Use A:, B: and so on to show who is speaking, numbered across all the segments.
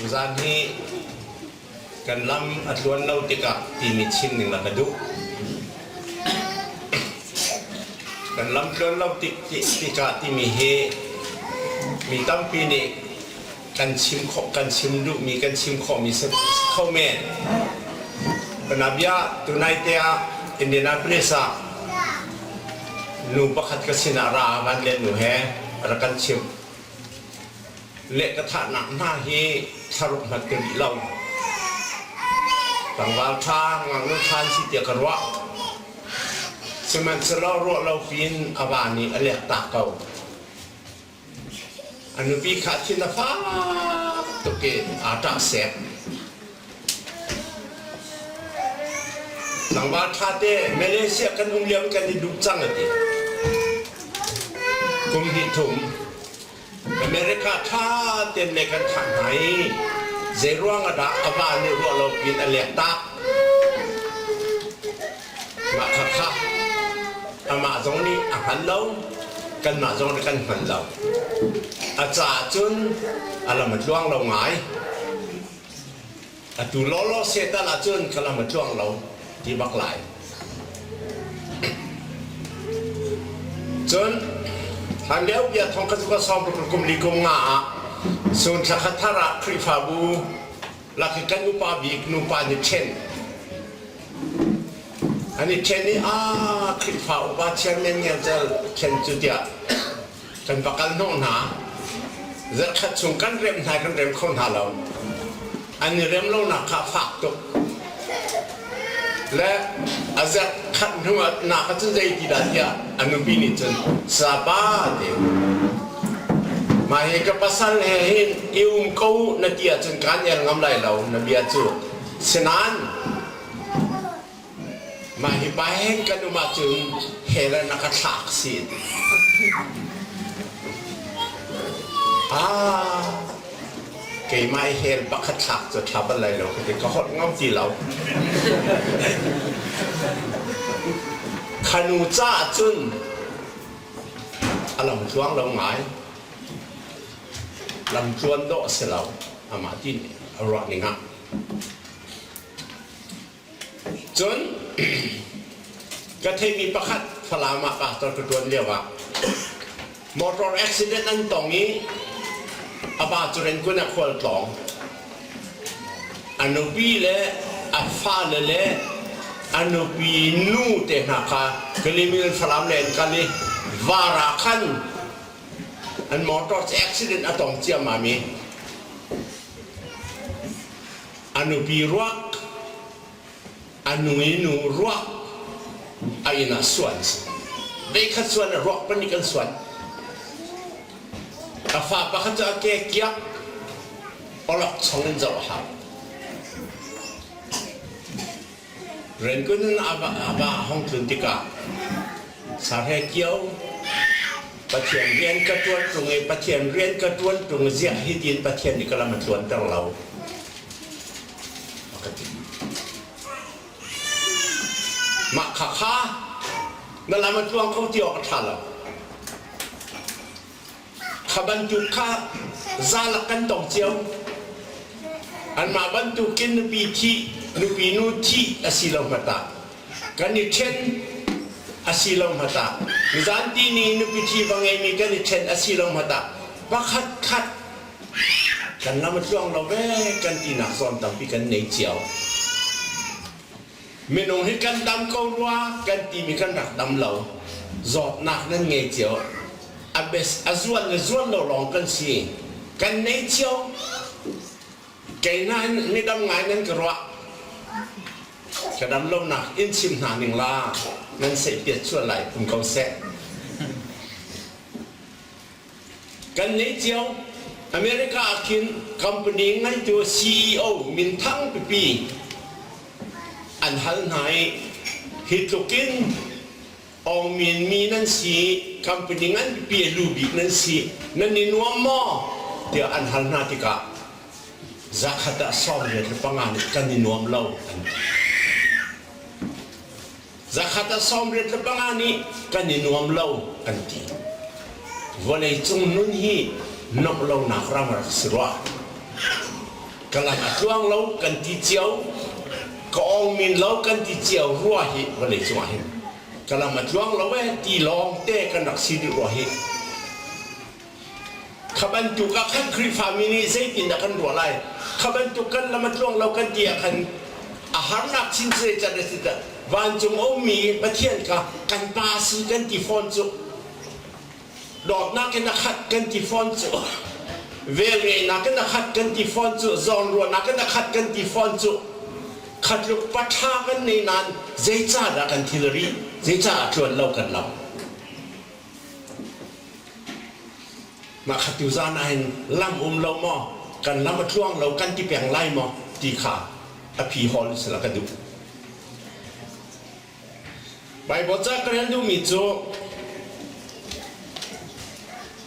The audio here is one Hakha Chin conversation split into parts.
A: Tuzaan hi kan lam a tluan lo tikah timi chin ning na ka duh. Kan lam tluan lo tik, tikah timi hi mi tampi nih kan chim khawh kan chim duhmi kan chim khawhmi si kho men. Panabia tunai te ah Indianapolis ah nu pakhat ka sinah ra a van le nu he rak kan chimh. le ka thahnak hna hi thlaruk hmanh ka rih lo. Tlangval ṭha, ngaknu ṭha an si tiah ka ruah. Sihmanhsehlaw ruah lo piin a va nih a lek tak ko. A nupi kha thin a fak tuk in aa ṭah sek. Tlangval ṭhate Malaysia kan um liam kan i duh cang a ti. Kum hnih thum America ṭha tein lei kan khangh hna i zeiruang ah dah a van nih ruah lo piin a leek tak. Mah khakha amah zong nih a hngal lo, kanmah zong nih kan hngal lo. A caah cun a lam a tluang lo ngai. Atu lawlaw setan ahcun ka lam a tluang lo ti bak lai. Cun hlan lio bia thong khat ka sawm ruk kum li kum nga ah sun thla khat thar ah Khrihfabu laki kan upa bik nupa nih ṭhen an i ṭhen i a Khrihfa upa chairman ngel cal ṭhen cu tiah Kan va kal hnawh hna. Zarkhat chung kan rem hna kan rem kho hna lo. An i rem lonak kha a fak tuk. Le a zarh khat hnuah na kha cu zei ti dah tiah a nupi nih cun saba tein mah hi ka pasal he hin i um ko na ti ahcun kaan el ngam lai lo na bia cu sinain Mah hi peng kan um ahcun Helen a ka thlak si a ti. Ah, keimah i hel pakhat thlak cu tha bal lai lo ka ti. Ka holh ngam ti lo. Khanu ca ahcun a lamtluang lo ngai. Lamtluan dawh a si lo. Amah ti nih a ruahning ah. Cun ka theimi pakhat Falam ah pastor ka ṭuan lioah motor accident an tong i a pa cu Renkun ah khual tlawng. A nupi le a fale le a nupi nu te hna kha Kalimin Falam le an kal i var ah khan an motor cu accident a tong ciammam i A nupi ruah, a nu i nu ruah, a inn ah suan a si. Veikhat suan ah ruah pahnih kan suan. A fa pakhat cu a ke kiak, awlok chong in zoh a hau. Rangoon in a va hong tlun tikah Sahle Kio Pathian rian ka ṭuan ṭung i Pathian rian ka ṭuan ṭung ziah hi tiin Pathian nih ka lam a tluanter lo. A ka ti. Mah khakha na lam a tluang kho ti awk a ṭha lo. Kha bantuk kha zalak kan tong cio. Anmah bantukin nupi thih, nupi nu thih a si lo hngat ah, kan i ṭhen a si lo hngat ah, nizanti ni nupi thi va ngeimi kan i ṭhen a si lo hngat ah, pakhat khat kan lam a tluang lo ve kan tinak zawn tampi kan nei cio. minung hi kan dam ko rua kan timi kan rak dam lo zawtnak nan ngei cio a zuan le zuan lo lawng kan si kan nei cio kei na in midam ngai nan ka ruah ka dam lo nak in chim hna ning la nan sei piat chuan lai um ko seh kan nei cio america ah khin company ngaitu ceo minthang pipi an hal hna i hi tluk in ong min mi nan si company ngan pipi a lu bik nan si nan i nuam maw tiah an hal hna tikah zakhat ah sawm riat le panga nih kan i nuam lo an ti Zakhat ah sawmriat le panga nih kan i nuam lo kan ti. Vawleicung nun hi nuamh lonak ram rak si rua. Ka lam a tluang lo kan ti cio. Ka ong min lo kan ti cio rua hi vawleicung ah hin. Ka lam a tluang lo e ti lawng te kan rak si rih rua hi. Kha bantuk ah kan Khrihfami nih zeitindah kan ruah lai? Kha bantuk kan lam a tluang lo kan ti ah khan a harnak chin zeitlanh a si dah? Vancung a ummi Pathian kha kan pa a si kan ti fawn cu. Dawtnak in a khat kan ti fawn cu. Velngeihnak in a khat kan ti fawn cu. Zawnruahnak in a khat kan ti fawn cu. Khatluk paṭha kan nei nain zeicahdah kan thilri, zeicah a tluan lo kan lo? Mah kha tuzaan ahhin lam um lo maw, kan lam a tluang lo kan ti peng lai maw ti kha a phi hawl sila ka duh. Baibal ca ka rel duhmi cu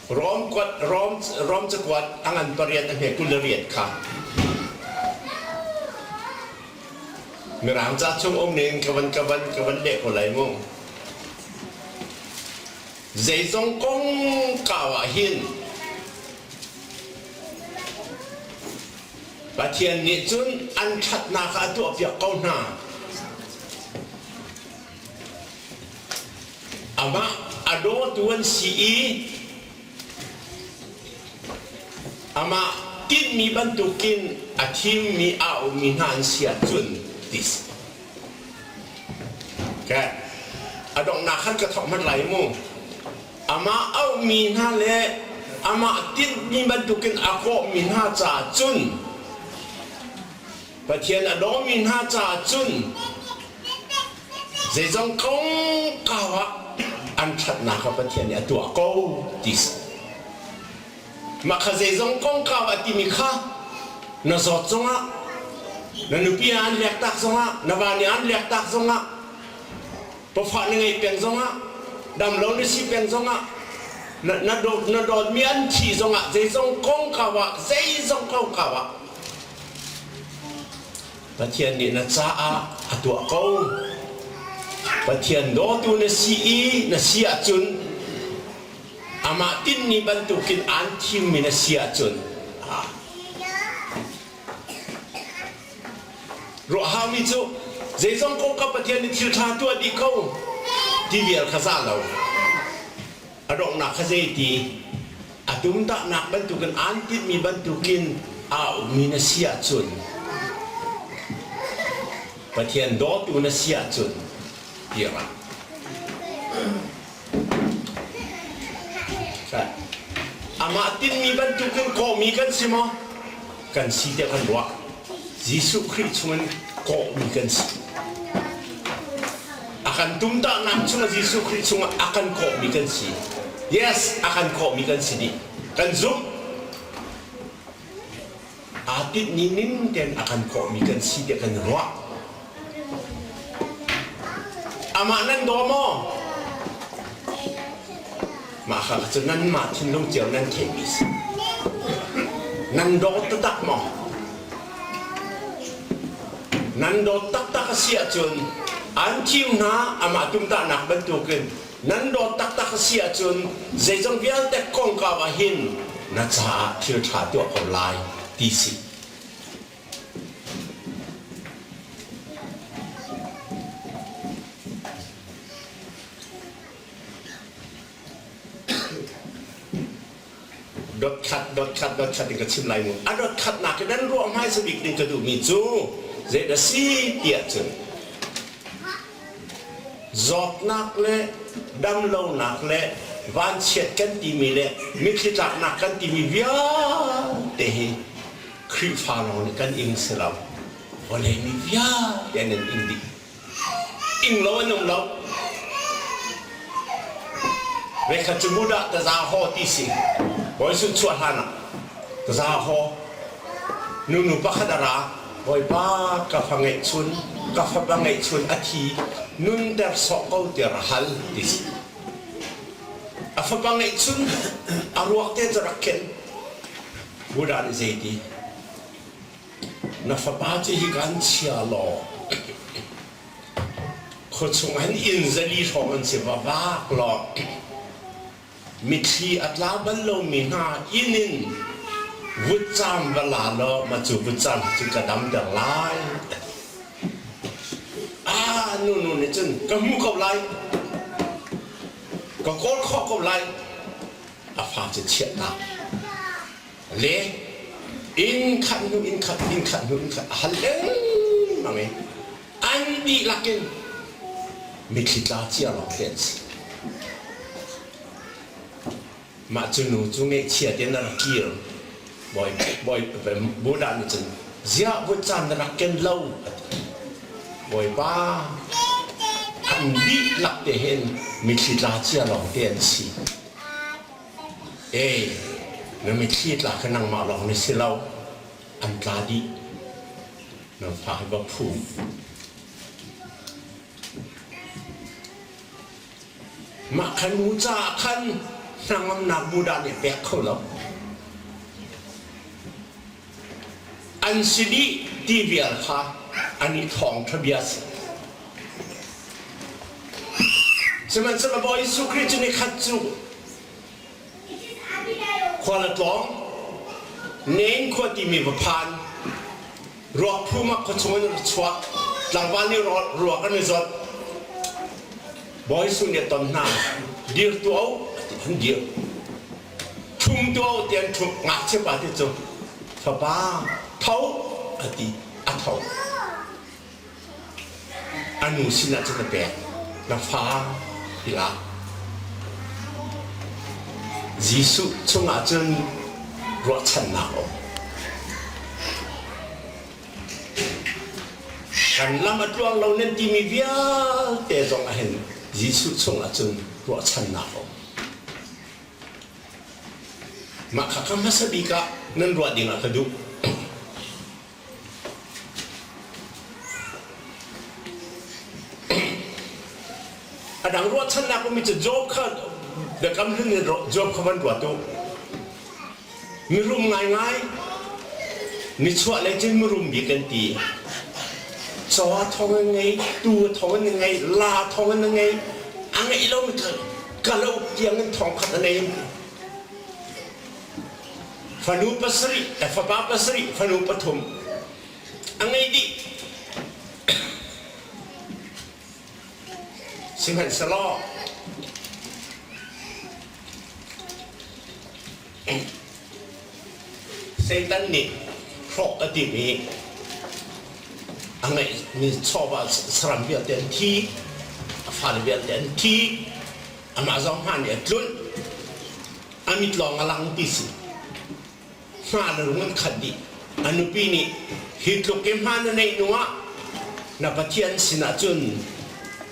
A: Rom kuat Rom Rom cakuat a ngan pariat a hme kul le riat kha Mirang ca chung um ning ka van ka van ka van leh ko lai mu. Zeizong kongkau ah hin Pathian nih cun an ṭhatnak ah a tuahpiak ko hna. Amah a dawtu an si i amah tinhmi bantukin a thimmi a ummi hna an si ahcun ti si. A donghnak khan ka thawk hmanh lai mu. Amah auhmi hna le amah tinhmi bantukin a kawhmi hna caah cun Pathian a dawmi hna caah cun zeizong kongkau ah an ṭhatnak kha Pathian nih a tuah ko ti si. Mah kha zeizong kongkau a timi kha na zawt zongah, na nupi ah an lektak zongah, na va nih an lektak zongah, pafa na ngei peng zongah, damlo na si peng zongah, na, na, dawt, na dawtmi an thih zongah zeizong kongkau ah, zeizong kongkau ah Pathian nih na caah a tuah ko. Pathian dawtu na si i na si ahcun Amah tinhmi bantukin aan thimmi na si ahcun ruah haumi cu zeizong kong kha Pathian nih thil ṭha tuah dih ko ti vial kha za lo. A donghnak kha zeiti? A tumtahnak bantukin aan tinhmi bantukin aa ummi na si ahcun Pathian dawtu na si ahcun kir ah. Amah tinhmi bantuk in kawhmi kan si maw? Kan si tiah kan ruah. Jesuh Khrih chungin kawhmi kan si. A kan tumtahnak chungah Jesuh Khrih chungah a kan kawhmi kan si. Yes, a kan kawhmi kan si dih. Kan zumh. aa tinhmi ning tein a kan kawhmi kan si tiah kan ruah. Amah nan daw maw? Mah kha cu nanmah thinlung cio nan theihmi si. Nan daw taktak maw? Nan daw taktak a si ahcun an thiu hna amah tumtahnak bantukin Nan dawt taktak a si ahcun zeizong vialte kongkau ah hin na caah thil ṭha tuah ko lai ti si. Dotkhat, dotkhat, dotkhat in ka chim lai mu. A dotkhatnak in an ruah hmaisa bik nih ka duhmi cu zei dah si tiah cun zawtnak le damlonak le vanchiat kan timi le mitthli tlaknak kan timi vialte hi Khrihfa lawng nih kan ing si lo. Vawlei mi vialte an in ing dih. Ing lo an um lo. Vekhat cu Buddha taza ho ti si. Voi sun chuah hlan ah taza ho. Nunu pakhat a ra. Bawipa ka fa ngeih chun, ka fapa ngeih chun a thi. Nun der sawh ko tiar a hal ti si. A fapa ngeih chun a ruak te cu rak khen. Buddha nih zei ti? Na fapa cu hi kan chia law khuachung an inn zali hrawng an si va vak law mitthli a tla bal lomi hna inn in vutcam va la law ma cu vutcam cu ka damter lai a nunu nih cun ka hmu ko lai ka kawl khawh ko lai a fa cu chiah ta le inn khat hnu inn khat inn khat hnu inn khat a hal lengmang i an dihlak in mitthli tla cia lawng thlen si mah cu nu cu ngeihchia te na rak kir bawi bawi buddha nih cun ziah vut caan na rak ken lo bawipa an dihlak te hin mitthli tla cia lawng te an si Ee, na mitthli tla kha nangmah lawng na si lo. An tla dih. Na fa hi va phu. Mah khan mu caah khan hnangamnak mu dah nih a pek kho lo. an si dih ti vial kha an i thawngṭha bia a si. Sihmanhsehlaw Bawi Jesuh Khrih cu nikhat cu khua le tlawng, Nain khua timi va phan, ruah phum ah khua chung in ra chuah, tlangval nih ruak an i zawt. Bawi Jesuh nih a ton hna, dir tuah u, ti khan dir. Phungtuo ti an ṭhut ngakchiapa te cu fapa tho a ti a tho a nu sinah cun a pek na fa i la Jesuh chungah cun ruahchannak a um kan lam a tluang lo nan timi vialte zong ah hin Jesuh chungah cun ruahchannak a um Mah kha hmasa bik ah nan ruah ding ah ka duh. A dang ruahchannak ummi cu Job kha biakam hlun in Job kha van ruat u. Mirum ngaingai, nichuah lei cun mirum bik an ti. Caw thawng an ngei, tu thawng an ngei, la thawng an ngei, a ngei lo kalo tiang in thawng khat a nei. Fanu pasarih, eh, fapa pasarih, fanu pathum. A ngei dih. Sihmanhsehlaw, Satan nih hrawk a timi a ngeihmi chawva saram vialte an thi, a fale vialte an thi, amah zong hma nih a tlunh, a mit lawng a lang ti si. hma na rung an khat dih. A nupi nih hi tluk i hma na neih hnuah na Pathian sinah cun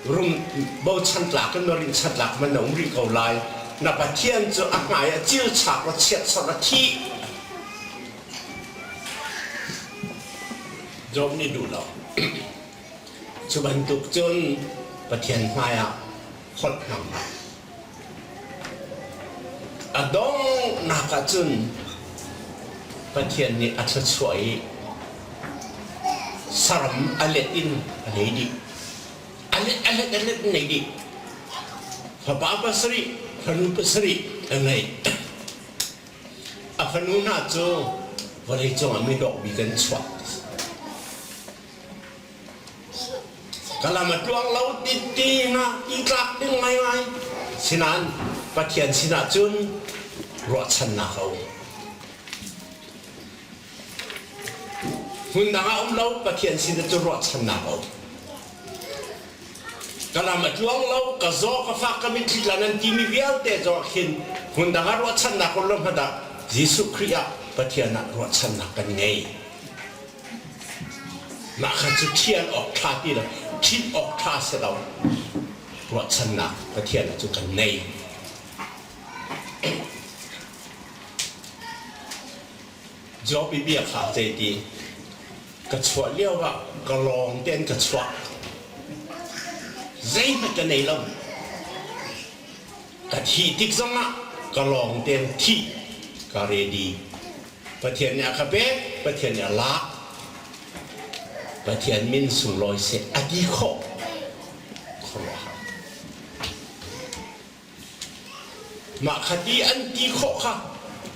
A: rum bochan tlak in rin chan tlak man a um rih ko lai. Na Pathian cu a hmai a cilchak a chiatsar a thih. Job nih duh lo. Cu bantuk cun Pathian hmaiah holh hmang hlah. A donghnak ah cun Pathian nih a thluachuah i saram a let in a ngei dih. A let a let a let in ngei dih. Fapa pasarih, fanu pasarih a ngei. A fanu hna cu vawlei cungah midawh bik an chuah. Ka lam a tluang lo ti tinak i tlak ding ngaingai. Sinan Pathian sinah cun ruahchannak a um. Hmundang a um lo, Pathian sinah cun ruahchannak a um. Ka lam a tluang lo, ka zaw ka fak ka mitthli tlan an timi vialte zaw khin hmundang a ruahchannak run lo hmadak Jesuh Khrih ah Pathian ah ruahchannak kan ngei. Mah kha cu thian awk ṭha ti lo, thih awk ṭha si lo ruahchannak Pathian cu kan ngei. Job i bia kha zei ti? Ka chuah lioah ka lawng tein ka chuah. Zeihmanh ka nei lo. Ka thih tik zongah ka lawng tein thih ka ready. Pathian nih a kha pek, Pathian nih a lak. Pathian min sunglawi seh a ti khawh khuaruahhar. Mah kha ti an ti khawh kha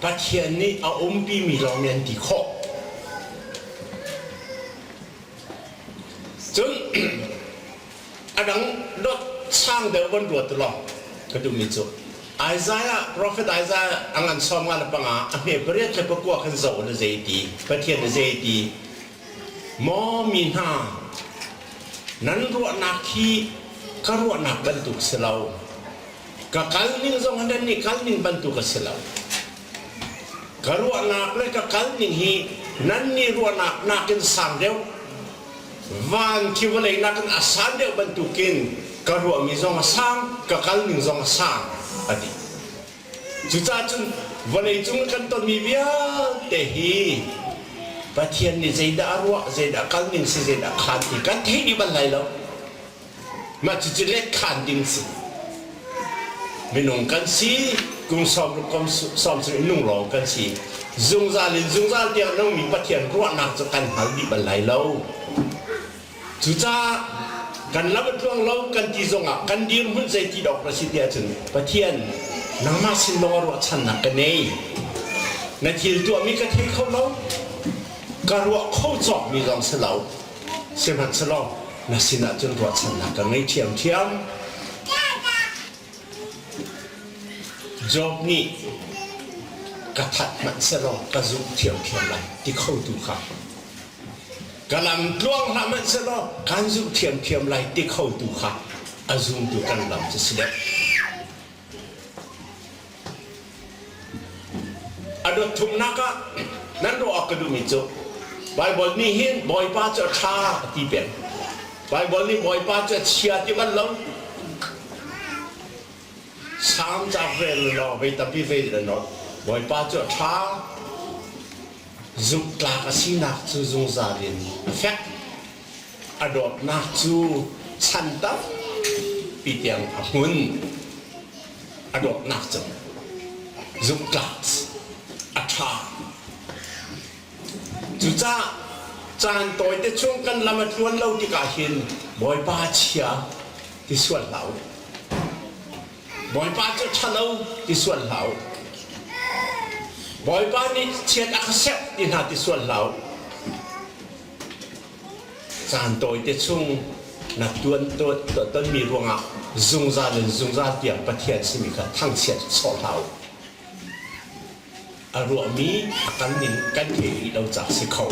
A: Pathian nih a umpimi lawng nih an ti khawh. Cun a dang dot sang deuh van ruat lawng ka duhmi cu Isaiah prophet Isaiah a ngan sawm nga le panga a hme pariat le pakua khan zoh na zei ti Pathian na zei ti maw mi hna nan ruahnak hi ka ruahnak bantuk si lo ka kal ning zong nan nih kal ning bantuk a si lo Ka ruahnak le ka kal ning hi nannih ruahnak nakin sang deuh, van khi vawlei nakin a san deuh bantukin ka ruahmi zong a sang, ka kal ning zong a sang, a ti. Cucahcun vawleicung i kan tonmi vialte hi Pathian nih zeidah a ruah, zeidah a kal ning si, zeidah a khaan ti kan theih dih bal lai lo. Mah cucu letkhan ding si. Minung kan si, kum sawm ruk kum sawm chung in nung lawng kan si. Zungzal in zungzal tiang nungmi Pathian ruahnak cu kan hngal dih bal lai lo. Cucaah kan lam a tluang lo kan ti zongah kan dirhmun zei ti dawk na si ti ahcun Pathian nangmah sin lawng ruahchannak ka nei. Na thil tuahmi ka thei kho lo. Ka ruah kho cawkmi zong si lo. Sihmanhsehlaw na sinah cun ruahchannak ka ngei ṭhiamṭhiam. Job nih ka that hmanhsehlaw ka zumh ṭhiamṭhiam lai ti khotu kha ka lam tluang hlah hmanhsehlaw kan zumh ṭhiamṭhiam lai ti khotu kha a zumtu kan lam cu si deuh. A dotthumnak ah nan ruah awk ka duhmi cu Baibal nih hin Bawipa cu a ṭha a ti peng. Baibal nih Bawipa cu a chia ti bal lo. Salm cauk rel law vei tampi vei in an awt. Bawipa cu a ṭha. Zumhtlak a sinak cu zungzal in a fek. A dawtnak cu chan tampi tiang a hmun. a dawtnak cang. Zumhtlak a ṭha. Cucaah caan tawite chung kan lam a tluan lo tikah hin Bawipa chia ti sual hlah u. Bawipa cu ṭhalo ti sual hlah u. Bawipa nih chiat a ka serh ti hna ti sual hlah u. caan tawite chung na tonmi ruangah zungzal in zungzal tiang Pathian simi kha thangchiat sawh hlah u. A ruahmi a kan ning kan thei rih lo cak si kho.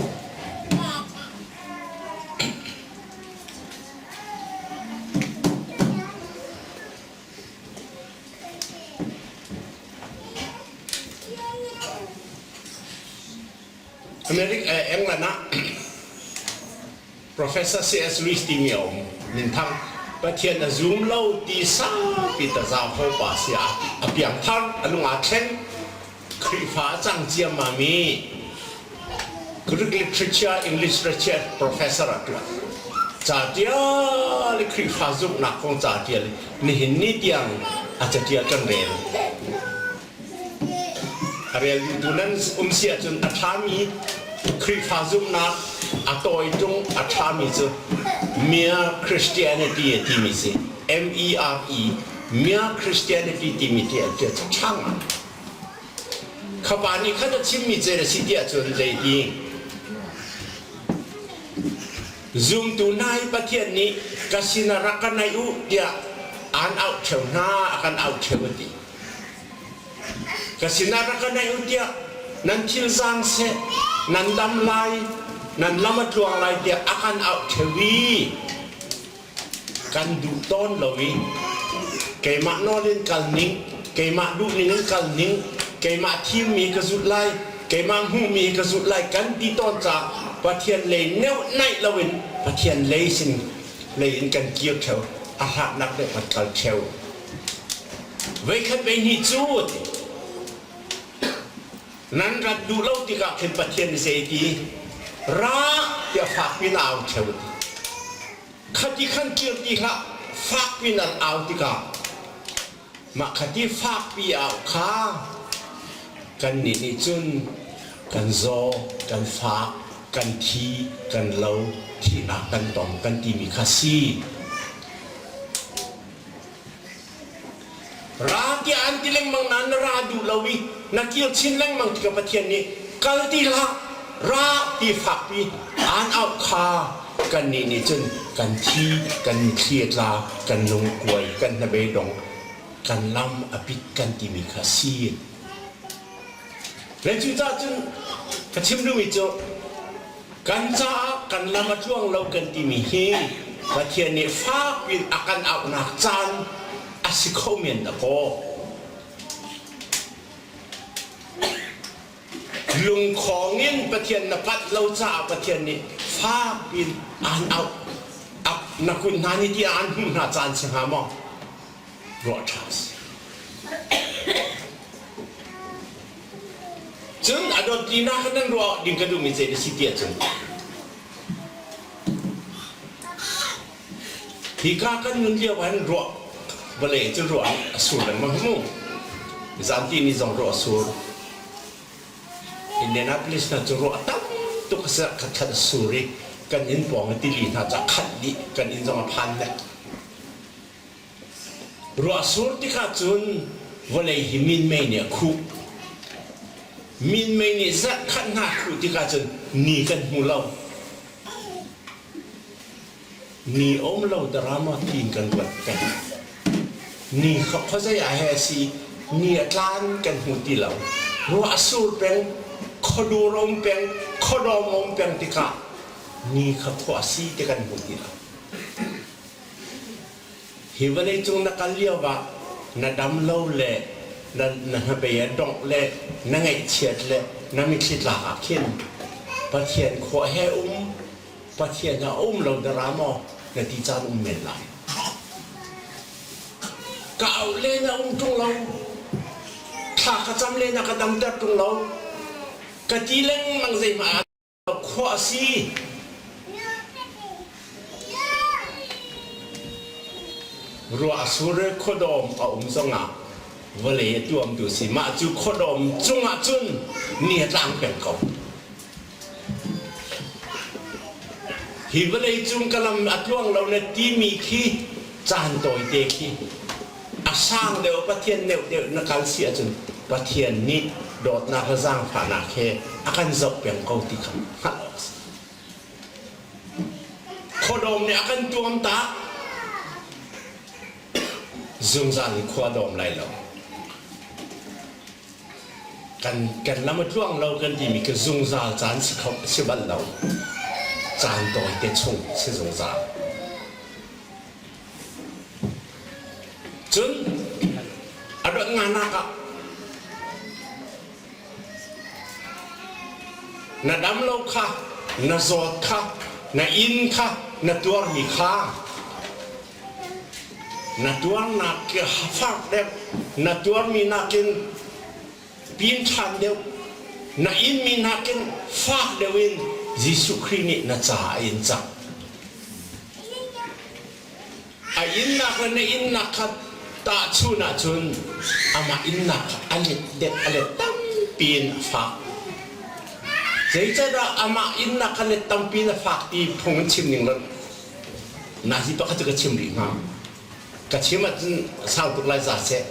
A: England ah Professor C.S. Lewis timi a um, minthang. Pathian a zum lo ti saupi tazau ho pa si a, a piang thar a lung a thleng Khrihfa a cang ciam ma mi Greek literature English literature professor a tua ca tial i Khrihfa zumhnak kong ca tial nihin ni tiang a ca tial kan rel A reldutu nan um si ahcun a ṭhami Khrihfa zumhnak a tawi ṭung a ṭhami cu mere Christianity a timi si. M-E-R-E mere Christianity timi ti a ṭha ngai. Khapa nih khan a chimmi cel a si ti ahcun zeiti? Zumtu nai Pathian nih ka sin ah rak ka naih u tiah an auh ṭheu hna, a kan auh ṭheu a ti. Ka sinah rak ka naih u tiah nan thil zaang seh nan dam lai nan lam a tluang lai tiah a kan auh theo i kan duh tawn lo i keimah nawl in kal ning keimah duhning in kal ning keimah thimmi ka zulh lai keimah hmuhmi ka zulh lai kan ti tawn caah Pathian lei neuh naih loin Pathian lei sin lei in kan kir theo a hlatnak le kan kal theo Veikhat veihnih cu nan rat duh lo tikah khin Pathian nih zei ti ra tiah fak pin au theo khati khan kir ti hlah fak pin an au tikah mah khati fakpi au kha kannih nih cun kan zaw kan fak kan thi kan lo thihnak kan tong kan timi kha si Ra tiah an ti lengmang nain na ra duh lo i na kir chin lengmang tikah Pathian nih kal ti hlah ra ti fakpi aan auh kha kannih nih cun kan thi kan thli a tla kan lungkuai kan hnabedong kan lam a pit kan timi kha si le cucah cun ka chim duhmi cu Kan caah kan lam a tluang lo kan timi hi Pathian nih fakpiin a kan auhnak caan a si kho men dakaw. Lungkhawng in Pathian na pat lo caah Pathian nih fakpiin aan auh. Na kun hna nih ti aan hmuh hna caan si hnga maw? ruah ṭha a si. Cun a dot tinak in nan ruah ding ka duhmi zei na si ti ahcun hi ka kan nun lio ah hin ruah vale cu ruah in a sur lengmang mu zamti ni zong ruah a sur Indianapolis hna cu ruah tam tuk a si ah khatkhat a sur i kan inn pawng i tili hna cu a khat dih kan inn zong a phan hnek Ruahsur tikah cun vawlei hi minmei nih a khuh. Minmei nih zarhkhatnak khuh tikah cun ni kan hmu lo. Ni um lo darama tiin kan ruat peng. Ni kha khuazei ah he a si ni a tlan kan hmu ti lo. Ruahsur peng, khuadur um peng, khuadawm um peng tikah ni kha khua a si ti kan hmu ti lo. Hi vawleicung na kal lioah na dam lo le na hnabei a dongh le na ngaihchiat le na mithlitlak ah khin Pathian khua he um, Pathian ah um lo na ra maw? Na ti caan um men lai. Ka au le na um ṭung lo. Thla ka cam le na ka damter ṭung lo. Ka ti lengmang zeihmah Khua a si. Ruah a surre khuadawm a um zongah vawlei a tuamtu si. Mah cu khuadawm cungah cun ni a tlang peng ko. Hi vawlei cung ka lam a tluang lo na timi khi caan tawite khi A sang deuh Pathian neuhdeuh na kal si ahcun Pathian nih dawtnak le zaangfahnak he a kan zoh peng ko ti kha hngalh awk a si. Khuadawm nih a kan tuamtak. Zungzal in khua dawm lai lo. Kan, kan lam a tluang lo kan timi khi zungzal caan si, kho, si bal lo. Caan tawite chung si zungzal. Cun a rat nganak ah na damlo kha, na zawt kha, na inn kha, na tuarmi kha na tuarnak fak deuh na tuarmi nakin pin ṭhan deuh, na inmi nakin fak deuh in Jesuh Khrih nih na ca a in cang. A innak le na innak kha tahchun ahcun amah innak kha a let deuh a let tampi in a fak. Zeicahdah amah innak kha let tampi in a fak ti phung in chim ning loh? Na hi pakhat cu ka chim rih hnga. ka chim ahcun sau tuk lai za seh.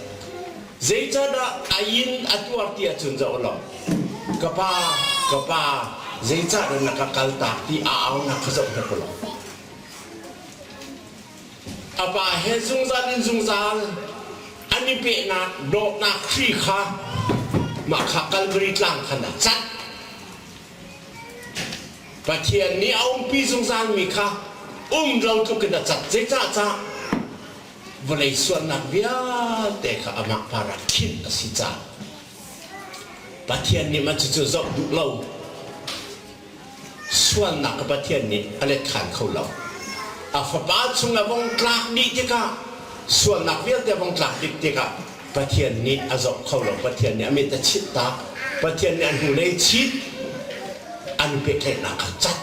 A: Zeicahdah a inn a tuar ti ahcun zoh law, ka pa, ka pa, zeicahdah na ka kal tak ti a aunak kha zoh hmet ko law. A pa he zungzal in zungzal an i pehnak dawtnak hri kha mah kha Kalvari tlang khan ah cat Pathian nih a umpi zungzalmi kha umro tluk in a cat. Zeicahcah? Vawlei sualnak vialte kha amah par ah khinh a si caah. Pathian nih mah cucu zoh duh lo. Sualnak kha Pathian nih a let khan kho lo. A fapa chung a vong tlak dih tikah, sualnak vialte a vong tlak dih tikah Pathian nih a zoh kho lo. Pathian nih a mit a chit tak. Pathian nih a hnulei chit. An pehtlaihnak kha cat.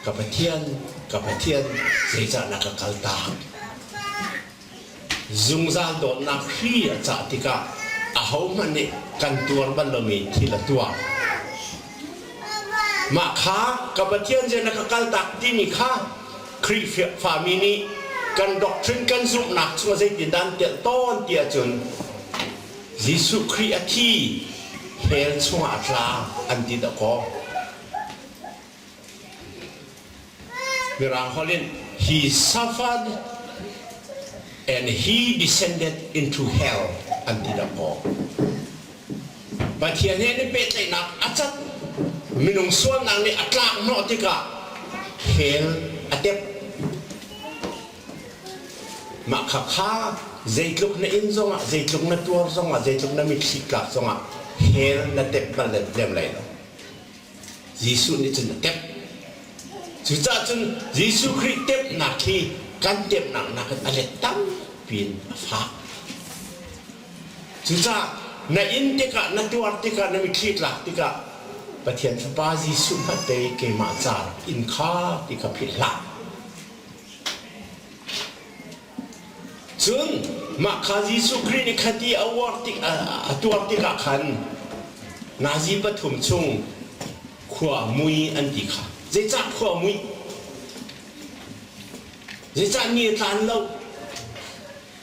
A: Ka Pathian, ka Pathian, zeicah na ka kal tak? Zungzal dawtnak hri a cah tikah ahohmanh nih kan tuar bal lomi thil a tuar. Mah kha ka Pathian nih na ka kaltak timi kha Khrihfami nih kan doctrine kan zumhnak chung zeitindah an telh tawn ti ahcun Jesuh Khrih a thi hell chungah a tla an ti dawh kaw Mirang holh in he suffered and he descended into hell an ti dahkaw. Pathian he nih pehtlaihnak a cat minung sualnak nih a tlak hnawh tikah hell a tep. Mah kha kha zeitluk na in zongah, zeitluk na tuar zongah, zeitluk na mitthli tlak zongah hell na tep bal lem lai lo. Jesuh nih cun a temh. Cucaah cun Jesuh Khrih temhnak hi kan temhnak nakin a let tampi in a fak. Cucaah na in tikah, na tuar tikah, na mitthli tlak tikah Pathian Fapa Jesuh hmanh pei keimah ca rak in kha ti kha philhhlah. Cun mah kha Jesuh Khrih nih kha ti a uar tik a tuar tikah khan Nazi pathum chung khua mui an ti kha. Zeicah khua mui? Zeicah ni a tlan lo?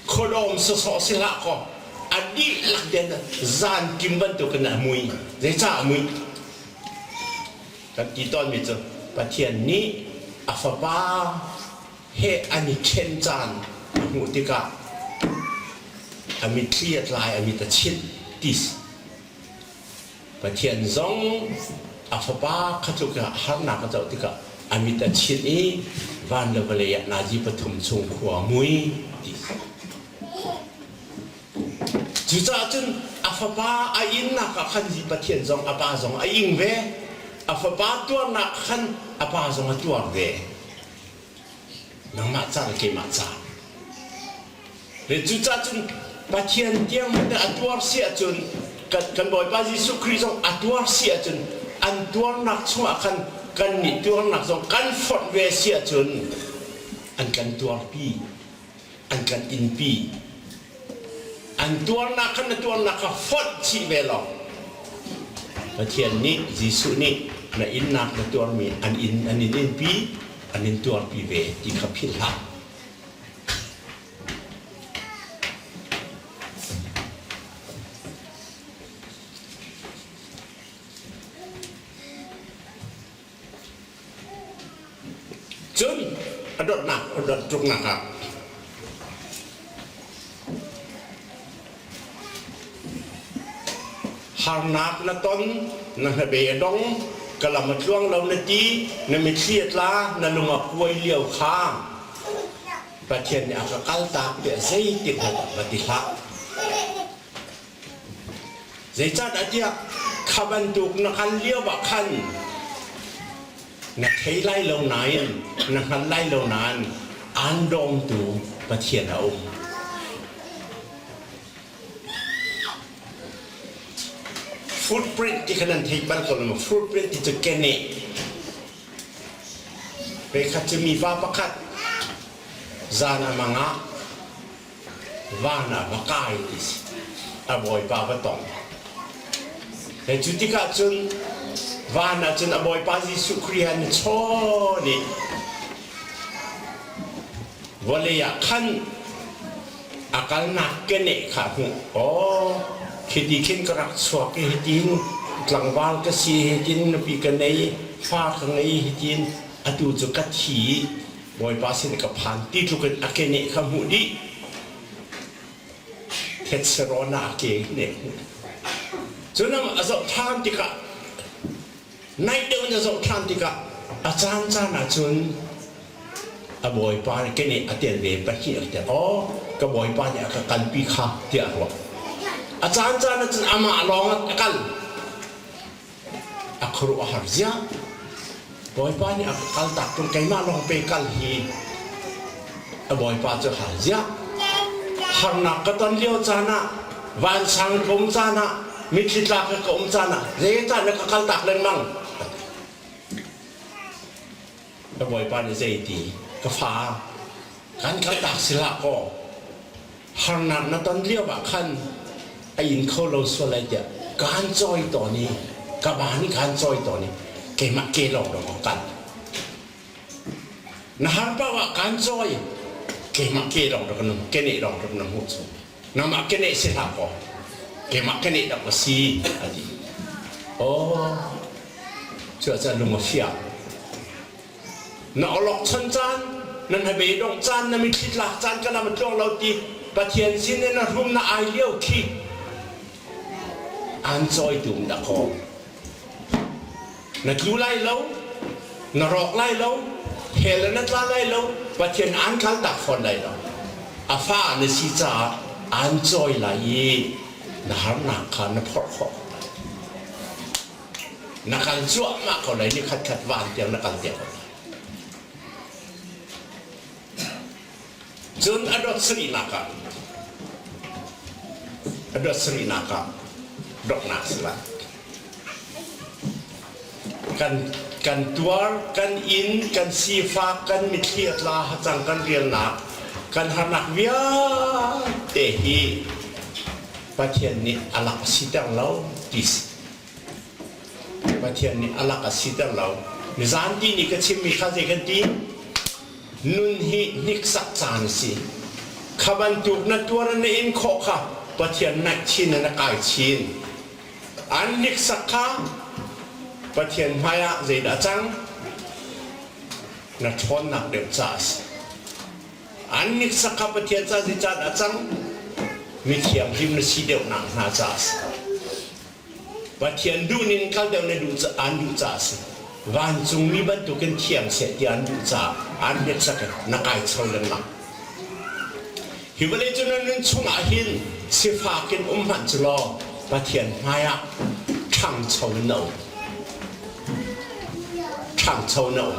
A: Khuadawm sawsawh si hlah kaw a dihlak ten zan kim bantukin a mui. Zeicah a mui? Kan ti tawnmi cu Pathian nih a Fapa heh an i ṭhen caan a hmuh tikah a mitthli a tlai a mit a chinh tis Pathian zong a fapa kha tluk ah harnak a co tikah a mit a chinh i van le vawlei ah nazi pathum chung khua mui tis cucaah cun a fapa a innak ah khan Pathian zong a pa zong a ing ve a fapa tuarnak khan a pa zong a tuar ve nangmah ca le keimah ca. Le cucaah cun Pathian tiang hmanh a tuar si ahcun kan, kan Bawipa Jesuh Khrih zong a tuar si ahcun an tuarnak chungah khan kannih tuarnak zong kan fonh ve si ahcun an kan tuarpi. an kan innpi an tuarnak kha na tuarnak kha fonh chih ve law Pathian nih Jesuh nih na innak na tuarmi an in an in inpi an in tuarpi ve ti kha philhhlah Cun a donhnak a don ṭuknak ah harnak na ton, na hnabe a dong, ka lam a tluang lo na ti, na mithli a tla, na lung a kuai lio kha Pathian nih a ka kaltak tiah zeitin dah va ti hlah. Zeicahtiah kha bantuk na hngal lioah khan na thei lai lo nain na hngal lai lo nain aan dawmtu Pathian a um. Footprint ti khan an thei bal ko lo. Footprint ti cu keneh. Veikhat cu mi va pakhat zan a mangah vanah va kai ti si a bawipa va tong he cu tikah cun van ah cun a bawipa Jesuh Khrih han chawn i vawlei ah khan a kalnak keneh kha a hmuh aw khi ti khin ka rak chuak i hitin tlangval ka si hitin nupi ka nei fa ka ngei hitin atu cu ka thi Bawipa sin i ka phan ti tluk in a keneh kha hmuh dih. Tetserona a keneh hmuh. Cun a zoh ṭhan tikah, naih deuh in a zoh ṭhan tikah, a caan caan ahcun a bawipa nih keneh a tel ve pahnih a tel. Aw, ka bawipa nih a ka kalpi kha, tiah a ruah. A caan caan ahcun amah lawng a kal. a khuaruah a har ziah. Bawipa nih a kaltak tung keimah lawng pe kal hi a bawipa cu hal ziah. Harnak ka ton lio caan ah, vansang ka um caan ah, mitthli tla ka ka um caan ah, zeicah na ka kaltak lengmang? Ka bawipa nih zei ti? Ka fa, kan kaltak silah kaw, harnak na ton lio ah khan a in kho lo sual lai tiah kaan cawi tawn i ka ba nih khan cawi tawn i keimah ke lawng lawng a kan na har pau ah kaan cawi keimah ke lawng rak nung kene lawng rak na hmu chung nangmah kene si hla kaw keimah kene rak ka si a ti aw cuah cah lung a fiak na olokchan caan nan habe dongh caan na mitthli tlak caan kana ma tluang lo ti pathian sin in na rum na ai lio khi an choi tum da kho na tlu lai lo na rawk lai lo hel na tla lai lo pathian an khal tak fon lai lo a fa na si caah an choi lai i na harnak kha na phorh khawh Na kal cuahmah ko lai, nikhatkhat van tiang na kal tiang ko lai. Cun a dot sarinak ah a dot sarinak ah doknak sila kan kan tuar kan inn kan sifak kan mitthli atla hacang kan rialnak kan harnak vialte hi Pathian nih a lak a si ter lo ti Pathian nih a lak a siter lo. Mizanti nih ka chimmi kha zei kan ti? Nun hi hniksak caan a si. Kha bantuk na tuar na in khawh kha Pathian naihchin le na kai chin. An hniksak kha Pathian hmaiah zeidah a cang? Na ṭhawnnak deuh ca a si. An hniksak kha Pathian ca zeicah dah a cang? Mi thianghlim na si deuhnak hna ca a si. Pathian duh ning hngal deuh le an duh caah a si. Vancungmi bantukin thiang seh ti an duh caah an hneksak in na kai cho lengmang. Hi vawlei cu nan nun chungah hin sifak in um hmanh cu law Pathian hmaiah ṭhangcho in na um. Ṭhangcho na um.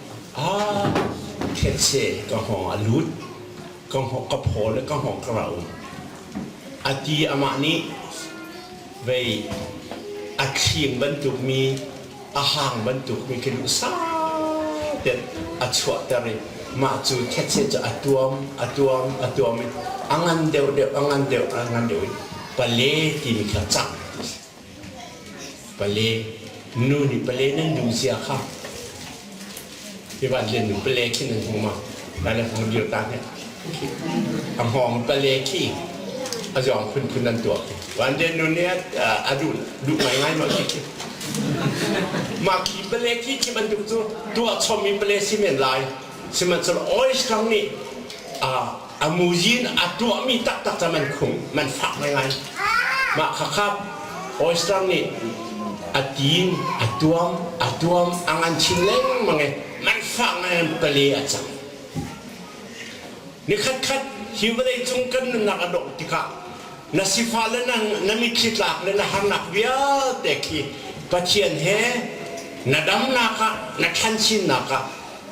A: Khetse ka hngawng a lut. Ka phaw le ka hngawng ka rau. A ti amah nih vei a thling bantukmi a hang bantukmi khi lu sate a chuahter i mah cu khetse cu a tuam a tuam a tuam i a ngan deuh deuh a ngan deuh a ngan deuh i pale timi kha cak. Pale nu nih pale nan duh zia kha ivan len nu pale khi nan hmu ma nan na hmu dir ta ne a hngawng pale khi a zuang phun phun nan tuah van len nu nih a duh duh ngai ngai ma khi mah khi pale khi khi bantuk cu tuah chom mi pale si men lai sihmanhsehlaw oil strong nih a a muzi in a tuahmi taktak cu man khung man fak ngaingai mah khakhap oyster nih a tin a tuam a tuam a ngan chin lengmang i man fak ngaingai pale a cang ni khatkhat hi vawlei cung kan nunnak a dawh tikah na sifa le na, na mitthli tlak le na harnak vialte khi pathian he na damnak ah na thansinnak ah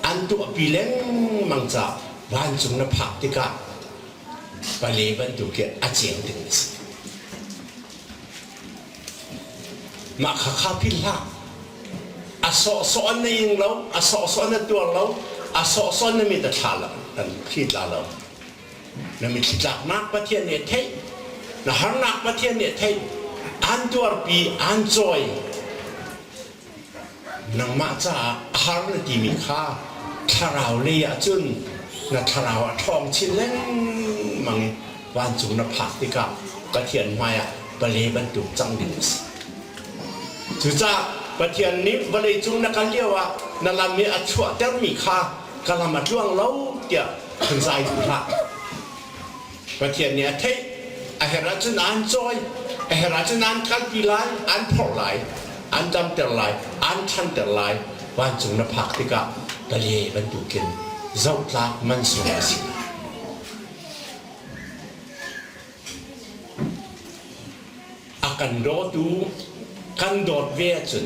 A: an tuahpi lengmang caah vancung na phak tikah pale bantuk hi a ceng ding a si mah kha kha philh hlah a sawhsawh na ing lo a sawhsawh na tuar lo a sawhsawh na mit a thla lo kan khi tla lo na mitthli tlaknak pathian nih a theih na harnak pathian nih a theih an tuarpi an cawi Nangmah caah a har na timi kha thlarau lei ahcun na thlarau ah ṭhawng chin lengmang i vancung na phak tikah Pathian hmaiah vale bantuk cang ding a si. Cucaah Pathian nih vawleicung na kal lioah na lam i a chuahtermi kha ka lam a tluang lo tiah han zai duh hlah. Pathian nih a theih, a herh ahcun aan cawi, a herh ahcun aan kalpi lai, aan phorh lai, aan damter lai, aan ṭhanter lai, vancung na phak tikah pale bantuk in zohtlak mansung a si. a kan dawtu kan dawt ve ahcun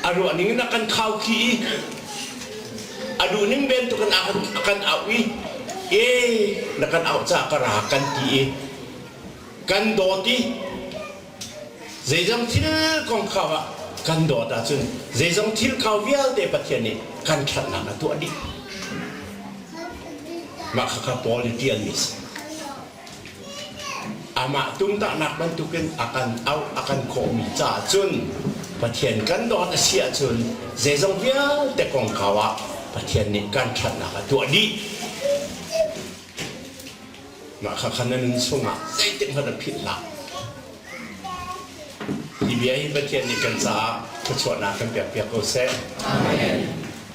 A: a ruah ning in a kan khau khi i a duh ning ven tu kan kan auh i e na kan auh ca ka ra kan ti i kan dawt i zeizong thil kong kha ah kan dawt ahcun zeizong thil kau vialte Pathian nih kan ṭhatnak a tuah dih. Mah kha kha Paul in ṭialmi a si. Amah tumtahnak bantukin a kan auh a kan khawhmi caah cun Pathian kan dawt a si ahcun zeizong vialte kongkau ah Pathian nih kan ṭhatnak a tuah dih. Mah kha khan na nun chungah zeitikhmanh a philh hlah. Hi bia hi Pathian nih kan caah thluachuahnak kan pekpiak ko seh. Amen.